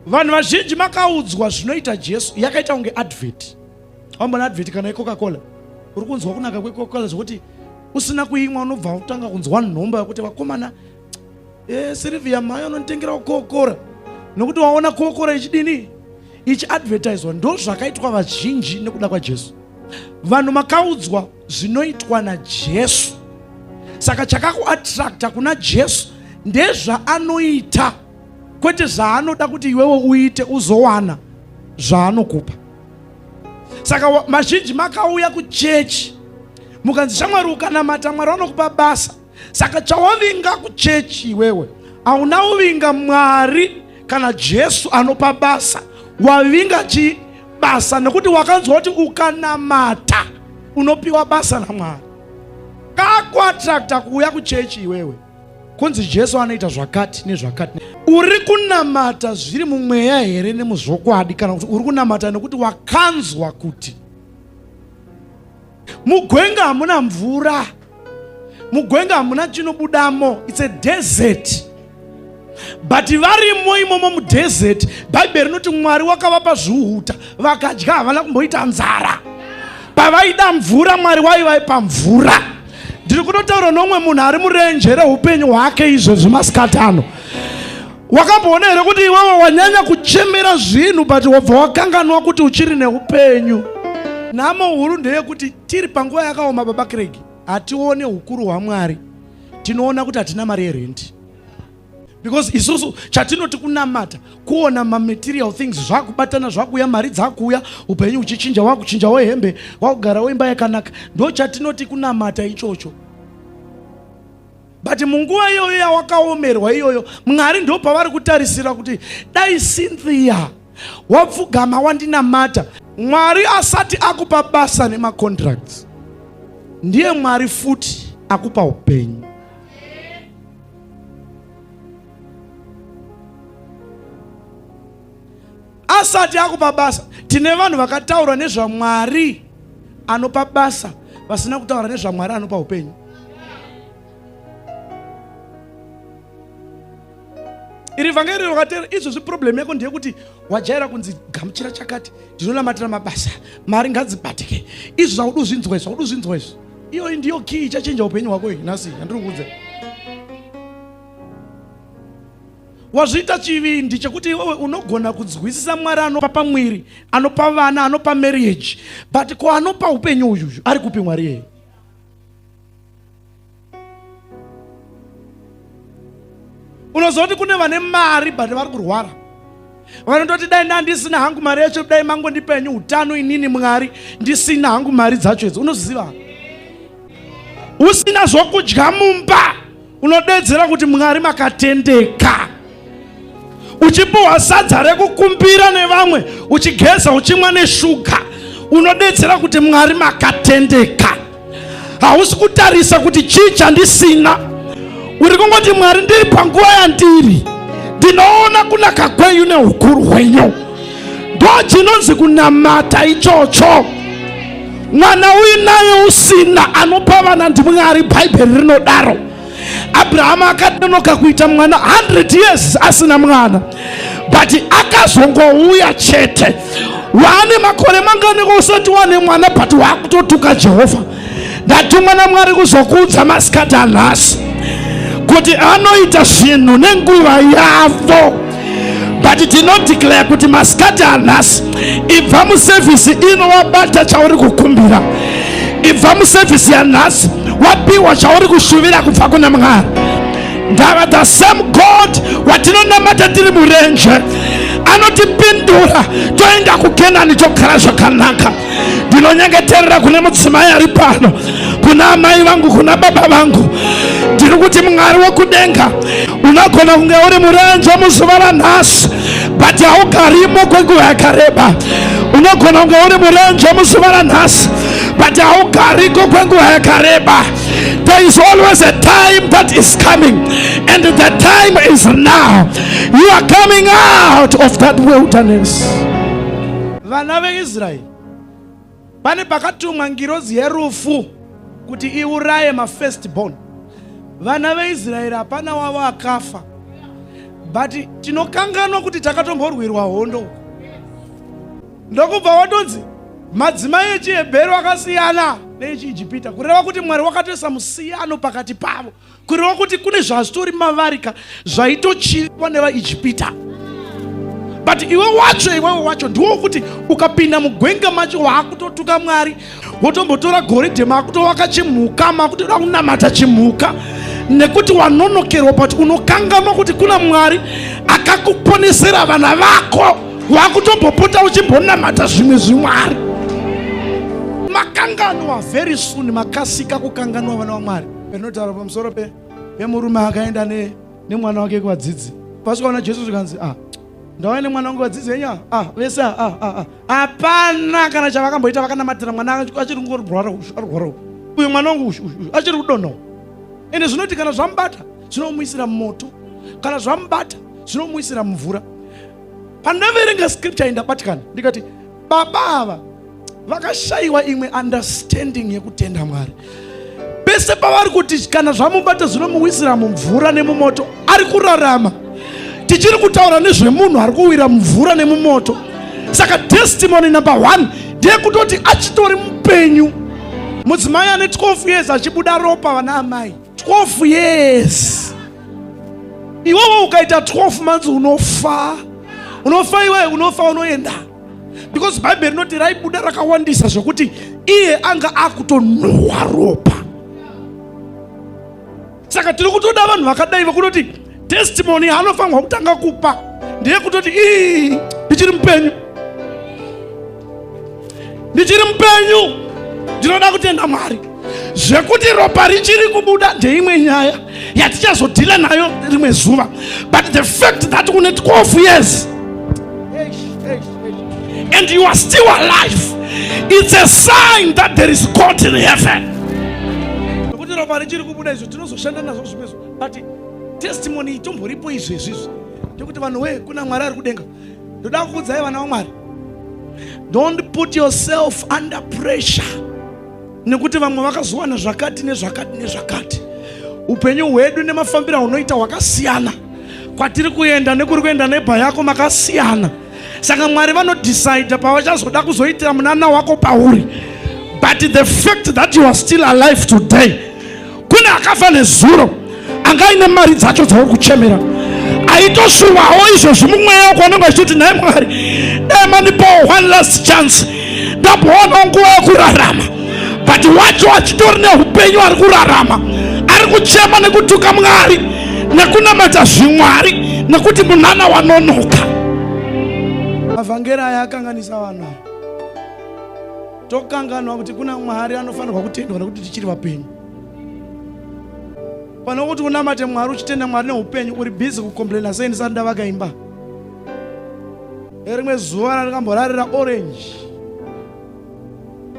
vanhu vazhinji makaudzwa zvinoita jesu yakaita kunge advert wambona advert kana yecoca cola uri kunzwa kunaka kwecoca cola zvekuti usina kuimwa unobva utanga kunzwa nhomba yekuti vakomana e, eh, sirivia mhai unonditengerawo kokora nokuti waona kokora ichidini ichiadvertiswa ndo zvakaitwa vazhinji nekuda kwajesu vanhu makaudzwa zvinoitwa najesu saka chakakuattracta kuna jesu ndezvaanoita kwete zvaanoda kuti iwewe uite uzowana zvaanokupa saka mazhinji makauya kuchechi mukanzi shamwari ukanamata mwari vanokupa basa saka chawavinga kuchechi iwewe hauna uvinga mwari kana jesu anopa basa wavinga chii basa nekuti wakanzwa kuti ukanamata unopiwa basa namwari kakuatrakta kuuya kuchechi iwewe kunzi Jesu anoita zvakati nezvakati. Uri kunamata zviri mumweya here nemuzvokwadi kana kuti uri kunamata nekuti wakanzwa kuti mugwenga hamuna mvura, mugwenga hamuna chinobudamo, it's a desert. but varimo imomo mudesert bhaibheri rinoti mwari wakavapa zviuta vakadya havana kumboita nzara pavaida mvura mwari waivaipa mvura ndiri kutotaura nomwe munhu ari murenje reupenyu hwake izvezvi masikati ano wakamboona here kuti iwewe wanyanya kuchemera zvinhu but wabva wakanganwa kuti uchiri neupenyu nhamo huru ndeyekuti tiri panguva yakaoma baba kregi hatione ukuru hwamwari tinoona kuti hatina mari yerendi because isusu chatinoti kunamata kuona mamaterial things zvakubatana zvakuuya mari dzakuuya upenyu uchichinja wakuchinja wehembe wakugara weimba yakanaka ndo chatinoti kunamata ichocho but munguva iyoyo yawakaomerwa iyoyo mwari ndo pavari kutarisira kuti dai cynthia wapfugama wandinamata mwari asati akupa basa nemacontracts ndiye mwari futi akupa upenyu asati akupa basa tine vanhu vakataura nezvamwari anopa basa vasina kutaura nezvamwari anopa upenyu iri vhangeri rakateera izvozvi problem yako ndeyekuti wajaira kunzi gamuchira chakati ndinonamatira mabasa mari ngadzibatike izvi zvakudu zvinzwa izvi zvakudu zvinzwa izvi iyoyi ndiyo kii ichachinja upenyu hwako iyi nhasi yandiri kuudza wazviita chivindi chekuti iwewe unogona kunzwisisa mwari anopa pamwiri anopa vana anopa marriage but ko anopa upenyu uyuyu ari kupi mwari yeye unoziva kuti kune vane mari but vari kurwara vanototi dai ndandisina hangu mari yacho dai mangondipenyu utano inini mwari ndisina hangu mari dzacho idzi unoziva usina zvokudya mumba unodedzera kuti mwari makatendeka uchipiwa sadza rekukumbira nevamwe uchigeza uchimwa neshuga unodetsera kuti mwari makatendeka hausi kutarisa kuti chii chandisina uri kungoti mwari ndiri panguva yandiri ndinoona kunaka kwenyu neukuru hwenyu ndo chinonzi kunamata ichocho mwana uinaye usina anopa vana ndimwari bhaibheri rinodaro abrahama akanonoka kuita mwana 100 years asina mwana but akazongouya chete waane makore manganiko usati wane mwana but waakutotuka jehovha ndatumwa namwari kuzokuudza masikati anhasi kuti anoita zvinhu nenguva yavo but tinodeclare kuti masikati anhasi ibva musevhisi ino wabata chauri kukumbira ibva musevhisi yanhasi wapiwa chauri kushuvira kubva kuna mwari ndava the same god watinonamata tiri murenje anotipindura toenda kukenani togara zvakanaka ndinonyengeterera kune mudzimai ari pano kuna amai vangu kuna baba vangu ndiri kuti mwari wekudenga unogona kunge uri murenje muzuva ranhasi but haugarimo kwenguva yakareba unogona kunge uri murenje muzuva ranhasi but haugariko kwenguva yakareba there is always a time that is coming and the time is now you are coming out of that wilderness Vana veIsraeri pane pakatumwa ngirozi yerufu kuti iuraye mafirst born. Vana veIsraeri hapana wavo akafa, but tinokanganwa kuti takatomborwirwa hondo uko, ndokubva watonzi madzimai echiHebheru akasiyana neechiIjipita, kureva kuti Mwari wakatoisa musiyano pakati pavo. kureva kuti kune zvazvitori mavari ka zvaitochiva nevaijipita but iwe wacho iwewe wacho ndiwo wokuti ukapinda mugwenga macho waakutotuka mwari wotombotora goridhe maakutovaka chimhuka maakutoda kunamata chimhuka nekuti wanonokerwa but unokanganwa kuti kuna mwari akakuponesera vana vako waakutombopota uchimbonamata zvimwe zvimwari makanganwa very soon makasika kukanganwa vana vamwari Panotaura pamusoro pe pemurume akaenda ne nemwana wake kuvadzidzi. Pasvikaona Jesu zvikanzi ah ndauya nemwana wangu vadzidzi venyu ah vese ah ah ah. Hapana ah. kana chavakamboita vakanamatira mwana achiri kungorwara ushu ari kurwara uyu mwana wangu ushu ushu achiri kudonhawo. Ende zvinoti kana zvamubata zvinomuisira moto kana zvamubata zvinomuisira mvura. Pandaverenga scripture indabatikana ndikati Baba ava vakashaiwa imwe understanding yekutenda Mwari. Pese pavari kuti kana zvamubata zvinomuwisira mumvura nemumoto, ari kurarama. Tichiri kutaura nezvemunhu ari kuwira mumvura nemumoto. Saka testimony number one ndeyekutoti achitori mupenyu. Mudzimai ane 12 years achibuda ropa vana amai. 12 years iwewe ukaita 12 months unofa unofa iwe unofa unoenda because bhaibheri rinoti raibuda rakawandisa zvekuti iye anga akutonhuhwa ropa saka tiri kutoda vanhu vakadai vekuti Testimony yaanofanirwa kutanga kupa ndeyekutoti ii ndichiri mupenyu, ndichiri mupenyu, ndinoda kutenda Mwari. Zvekuti ropa richiri kubuda ndeimwe nyaya yatichazodhila nayo rimwe zuva, but the fact that une 12 years and you are still alive it's a sign that there is God in heaven. Ropa richiri kubuda izvo tinozoshanda nazvo zvimwe but testimony itomboripo izvi izvizvi ndekuti vanhu wee kuna mwari ari kudenga ndoda kukudzai vana vamwari don't put yourself under pressure nekuti vamwe vakazowana zvakati nezvakati nezvakati upenyu hwedu nemafambiro aunoita hwakasiyana kwatiri kuenda nekuri kuenda nebha yako makasiyana saka mwari vanodecide pavachazoda kuzoitira munana wako pauri but the fact that you are still alive today kune akafa nezuro anga aine mari dzacho dzauri kuchemera aitoshuvawo izvozvi mumweya wako anenge achitoti nhai mwari dai mandipawo one last chance ndamboona nguva yekurarama but wacho achitori neupenyu ari kurarama ari kuchema nekutuka mwari nekunamata zvimwari nekuti munana wanonoka mavhangeri aya akanganisa vanhu ava tokanganwa kuti kuna mwari anofanirwa kutendwa nekuti tichiri vapenyu pane kuti unamate mwari uchitenda mwari neupenyu uri bhizi kukomplaina sei ndisati ndavaka imba erimwe zuva randikamborarira orange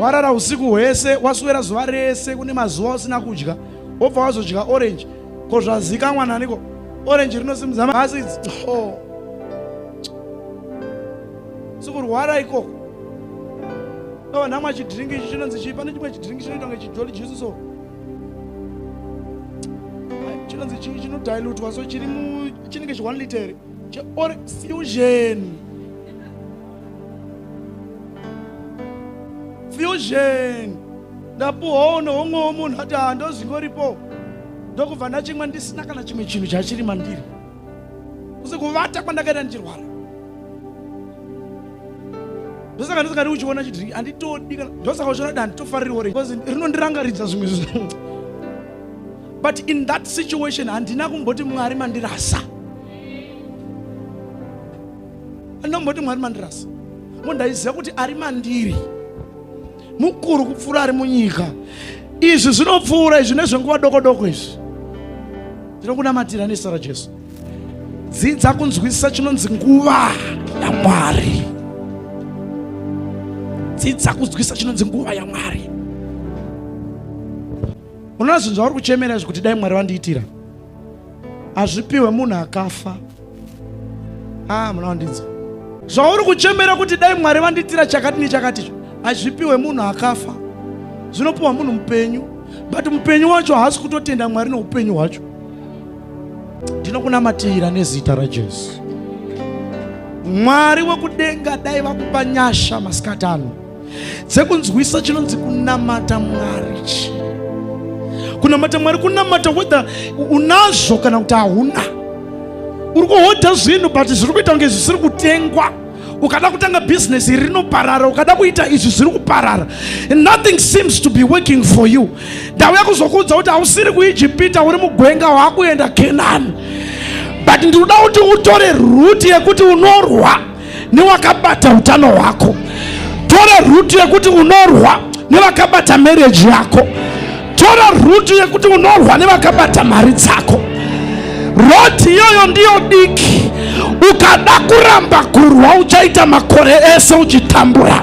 warara usiku hwese waswera zuva rese kune mazuva usina kudya wobva wazodya orange ko zvazikamwa naniko orange rinosimudza maasidi oh. sikurwara ikoko ava namwa chidhiringi ichi chinonzi chii pane chimwe chidhiringi chinoitwa ngechijoli jusi so chinonzi chii chinodilutwa so chiri mu chinenge chi one liter cheore fusion fusion ndapuhoo nohomwewo munhu ati handozingoripo ndokubva ndachimwa ndisina kana chimwe chinhu chachiri mandiri kusi kuvata kwandakaita ndichirwara ndosaka ndisingadi uchiona chidrink anditodi kana ndosaka uchiona da nditofarirwa re because rinondirangaridza zvimwe zvinhu but in that situation handina kumboti mwari mandirasa andina kumboti mwari mandirasa ngo ndaiziva kuti ari mandiri mukuru kupfuura ari munyika izvi zvinopfuura izvi nezvenguva doko doko izvi ndinokunamatira nezita rajesu dzidza kunzwisisa chinonzi nguva yamwari dzidza kunzwisisa chinonzi nguva yamwari unoona zvinhu zvauri kuchemera izvi kuti dai mwari vandiitira hazvipiwe munhu akafa ah muna wandinzwa zvauri kuchemera kuti dai mwari vandiitira chakati nechakati izvo hazvipiwe munhu akafa zvinopiwa munhu mupenyu but mupenyu wacho haasi kutotenda mwari neupenyu hwacho ndinokunamatira nezita rajesu mwari wekudenga dai vakupa nyasha masikati ano dzekunzwisa chinonzi kunamata mwari chi kunamata mwari kunamata whether unazvo kana kuti hauna uri kuhodha zvinhu but zviri kuita kunge zvisiri kutengwa ukada kutanga bhizinesi iri rinoparara ukada kuita izvi zviri kuparara nothing seems to be working for you ndauya kuzokuudza kuti hausiri kuijipita uri mugwenga waakuenda kenani but ndinoda kuti utore ruti yekuti unorwa newakabata utano hwako tora rutu yekuti unorwa nevakabata mereji yako tora rutu yekuti unorwa nevakabata mari dzako roti iyoyo ndiyo diki ukada kuramba kurwa uchaita makore ese uchitambura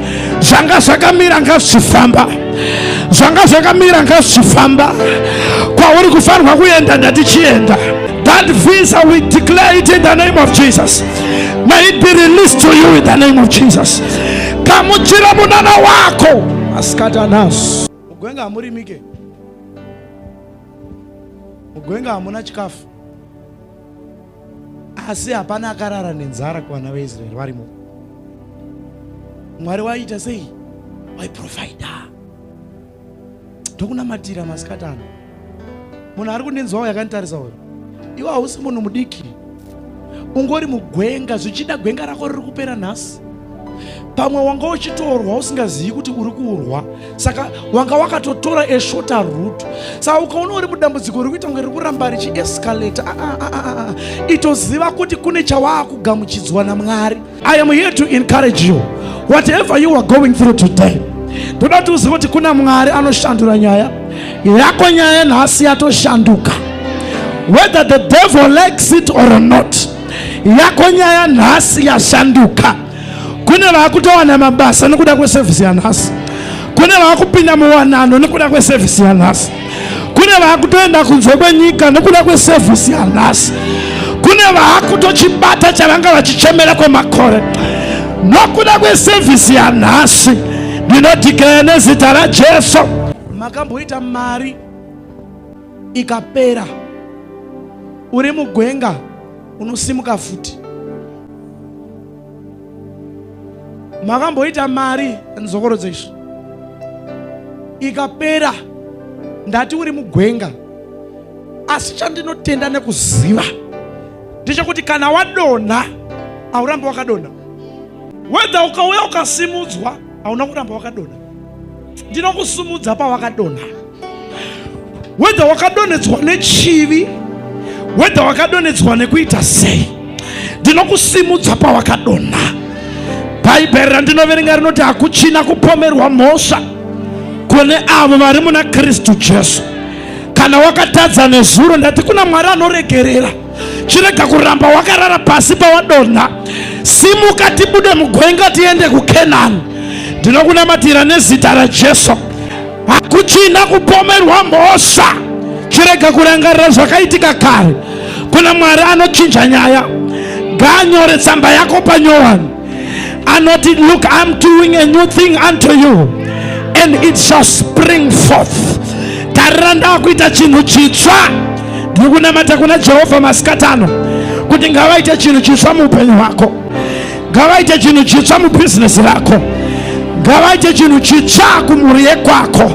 zvanga zvakamira ngazvichifamba zvanga zvakamira ngazvichifamba kwauri kufanirwa kuenda ndatichienda that visa we declare it in the name of jesus may it be released to you in the name of jesus gamuchira munana wako asikata nazo mugwenga hamurimike mugwenga hamuna chikafu asi hapana akarara nenzara kuvana veisraeri varimo mwari waiita sei waiprofaida ndokunamatira masikati ano munhu ari kundinzwawo yakanditarisa uyo iwe hausi munhu mudiki ungori mugwenga zvichida gwenga rako riri kupera nhasi pamwe wanga uchitorwa usingazivi kuti uri kurwa saka wanga wakatotora eshota root saka ukaona uri mudambudziko uri kuita kunge riri kuramba richiescalata ah, ah, ah, itoziva kuti kune chawaakugamuchidzwa namwari i am here to encourage you whatever you are going through today ndoda kuti uzive kuti kuna mwari anoshandura nyaya yako nyaya nhasi yatoshanduka whether the devil likes it or not yako nyaya nhasi yashanduka kune vakutowana mabasa nekuda kwesevhisi yanhasi kune vakupinda muwanano nekuda kwesevhisi yanhasi kune vakutoenda kunze kwenyika nekuda kwesevhisi yanhasi kune vakutochibata chavanga vachichemera kwemakore nokuda kwesevhisi yanhasi ndinodhikiraya nezita rajesu makamboita mari ikapera uri mugwenga unosimuka futi makamboita mari nzokorodzo izvi ikapera ndati uri mugwenga asi chandinotenda nekuziva ndechekuti kana wadonha haurambi wakadonha wedha ukauya ukasimudzwa hauna kuramba wakadonha ndinokusumudza pawakadonha wedha wakadonhedzwa nechivi wedha wakadonhedzwa nekuita sei ndinokusimudza pawakadonha bhaibheri randinoverenga rinoti hakuchina kupomerwa mhosva kune avo vari muna kristu jesu kana wakatadza nezuro ndati kuna mwari anoregerera chirega kuramba wakarara pasi pawadonha simuka tibude mugwenga tiende kukenani ndinokunamatira nezita rajesu hakuchina kupomerwa mhosva chirega kurangarira zvakaitika kare kuna mwari anochinja nyaya ngaanyore tsamba yako panyowani anoti look i'm doing a new thing unto you and it shall spring forth tarira ndakuita chinhu chitsva ndiri kunamata kuna jehovha masikati ano kuti ngavaite chinhu chitsva muupenyu hwako ngavaite chinhu chitsva mubhizinesi rako ngavaite chinhu chitsva kumhuri yekwako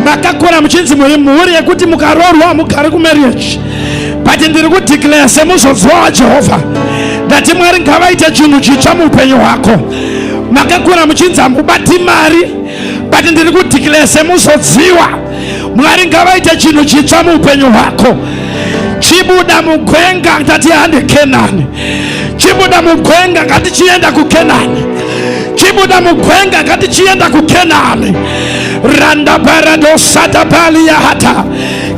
makakura muchinzi mhuri yekuti mukaroorwa hamugari kumarriage but ndiri kudeclare semuzodziwa wajehovha ndati mwari ngavaite chinhu chitsva muupenyu hwako makakura muchinzi hamubati mari but ndiri kudeclare semuzodziwa mwari ngavaite chinhu chitsva muupenyu hwako chibuda mugwenga ndati hande kenani chibuda mugwenga ngati chienda kukenani chibuda mugwenga ngati chienda kukenani randa barado sata bali ya hata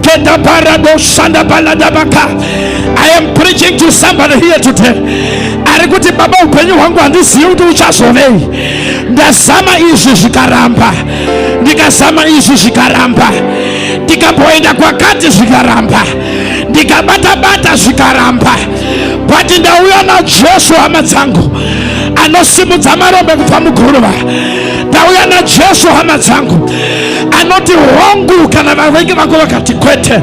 kenda barado sanda balada baka i am preaching to somebody here today ari kuti baba upenyu hwangu handizivi kuti uchazovei ndazama izvi zvikaramba ndikazama izvi zvikaramba ndikamboenda kwakati zvikaramba ndikabata bata zvikaramba but ndauya najesu hama dzangu anosimudza marombe kubva muguruva ndauya najesu hama dzangu anoti hongu kana vavengi vako vakati kwete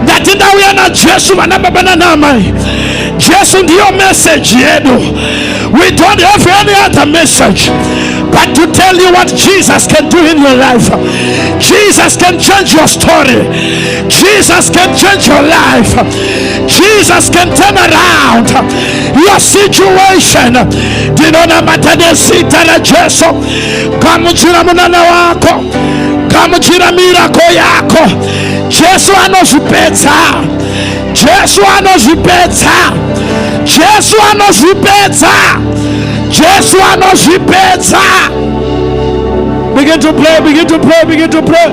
ndati ndauya najesu vana baba nanaamai jesu ndiyo meseji yedu we don't have any other message but to tell you what Jesus can do in your life. Jesus can change your story. Jesus can change your life. Jesus can turn around your situation. Ndinonamata nezita raJesu. Gamuchira munana wako, gamuchira mirako yako. Jesu anozvipedza, Jesu anozvipedza, Jesu anozvipedza, Jesu anozvipedza. Begin to pray, begin to pray, begin to pray.